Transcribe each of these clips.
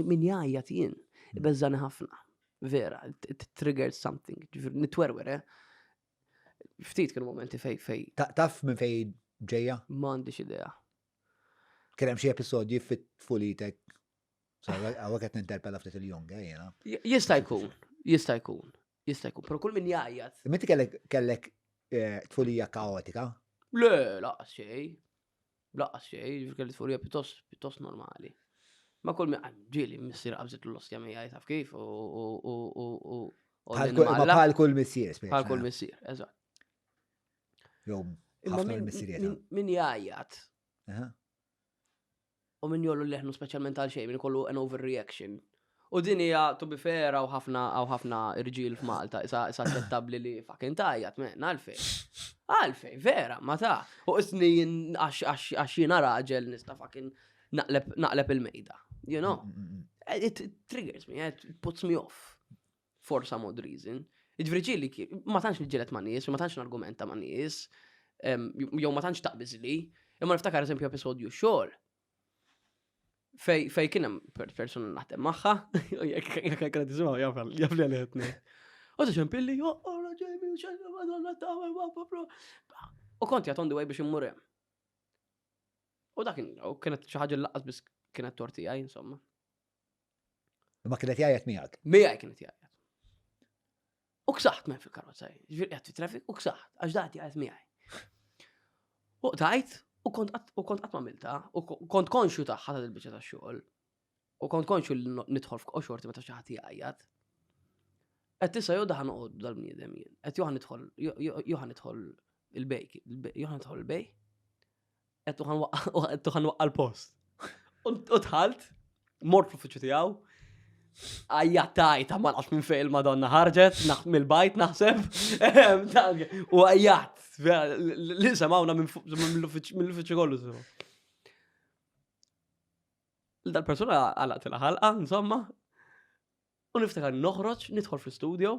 Min jgħajjat jien, bezzani ħafna. Vera, it triggered something. Nitwerwer, eh? Ftit kienu momenti fej fej. Taf minn fej ġeja? M'għandix idea. Kien hemm xi episodji fit-fulitek. Għawek qed ninterpella ftit il-jong, eh, jena. Jista' jkun, jista' jkun, jista' jkun, però kull min jgħajjat. Minn kellek kellek eh, tfulija kaotika? Le, laqas xej. Blaqqas xej, ġifri kelli tfurija pjuttost, pjuttost normali. Ma kull minn ġieli missier qabżit l-ostja mija jitaf kif u. Bħal kull missier, spiex. Bħal kull missier, eżatt. Jom, ħafna missier Min jgħajjat. U min jgħollu leħnu speċjalment għal xejn, min ikollu an overreaction. U din hija to be fair hawn ħafna hawn ħafna irġiel f'Malta, isa isa aċċettabbli li fucking tajjat, men, għalfejn. Għalfejn, vera, ma ta. U isni jien għax- għax għax jiena raġel nista' fucking naqleb naqleb il-mejda. You know? Mm, mm, mm. Eh, It it triggers me, eh, it puts me off. for some odd reason. Ġviri ġili, ma tantx nġilet ma' nies, ma tantx nargumenta ma' nies, jew ma tantx taqbizli, imma niftakar eżempju episodju xogħol. Fej, fej kienem persona naħdem maħħa, jek jek tisimgħu jaf li għalħetni. U ta' ċempilli, oh, oh, U konti għat on the way biex immur hemm. U dak kienet xi ħaġa laqas biss kienet torti għaj, insomma. Ma kien qed jgħajjat miegħek. Miegħi kien qed jgħajjat. U ksaħt men fil-karozza, ġifieri qed fit-traffic u ksaħt għax dan jgħajjat miegħi. U tajt u kont qatt ma milta u kont konxju tagħha ta' il-biċċa tax-xogħol. U kont konxju li nidħol f'qoxorti meta xi ħadd jgħajjat. Qed tisa' jew daħan noqgħod dal-bniedem jien. Qed joħan nidħol joħan nidħol il-bejk, joħan nidħol il-bej. Għettu ħan waqqa l-post. U tħalt, mort fl-uffiċu tijaw, għajja tajta ma nafx minn fejn madonna ħarġet, naħt mill-bajt naħseb, u għajjat, li semawna mill-uffiċu kollu. Dal-persona għalaq tila ħalqa, insomma, u niftakar noħroġ, nidħol fil-studio,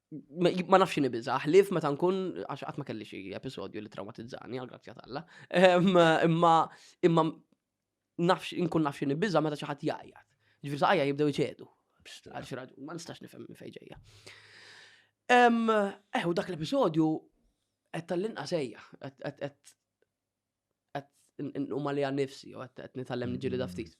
ma nafx xini biza, ħlif meta nkun, għax għatma kelli xie episodju li traumatizzani, għal-grazzja talla, imma, imma nafx, nkun nafx xini biza meta ċaħat jajja. Ġifir saqajja jibdew iċedu. Għal xi raġun, ma nistax nifhem minn fejn ġejja. Eh, u dak l-episodju qed tal-inqas ejja, qed qed nqum għalija nifsi u qed nitgħallem niġili da ftit.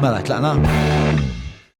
Mela, tlaqna?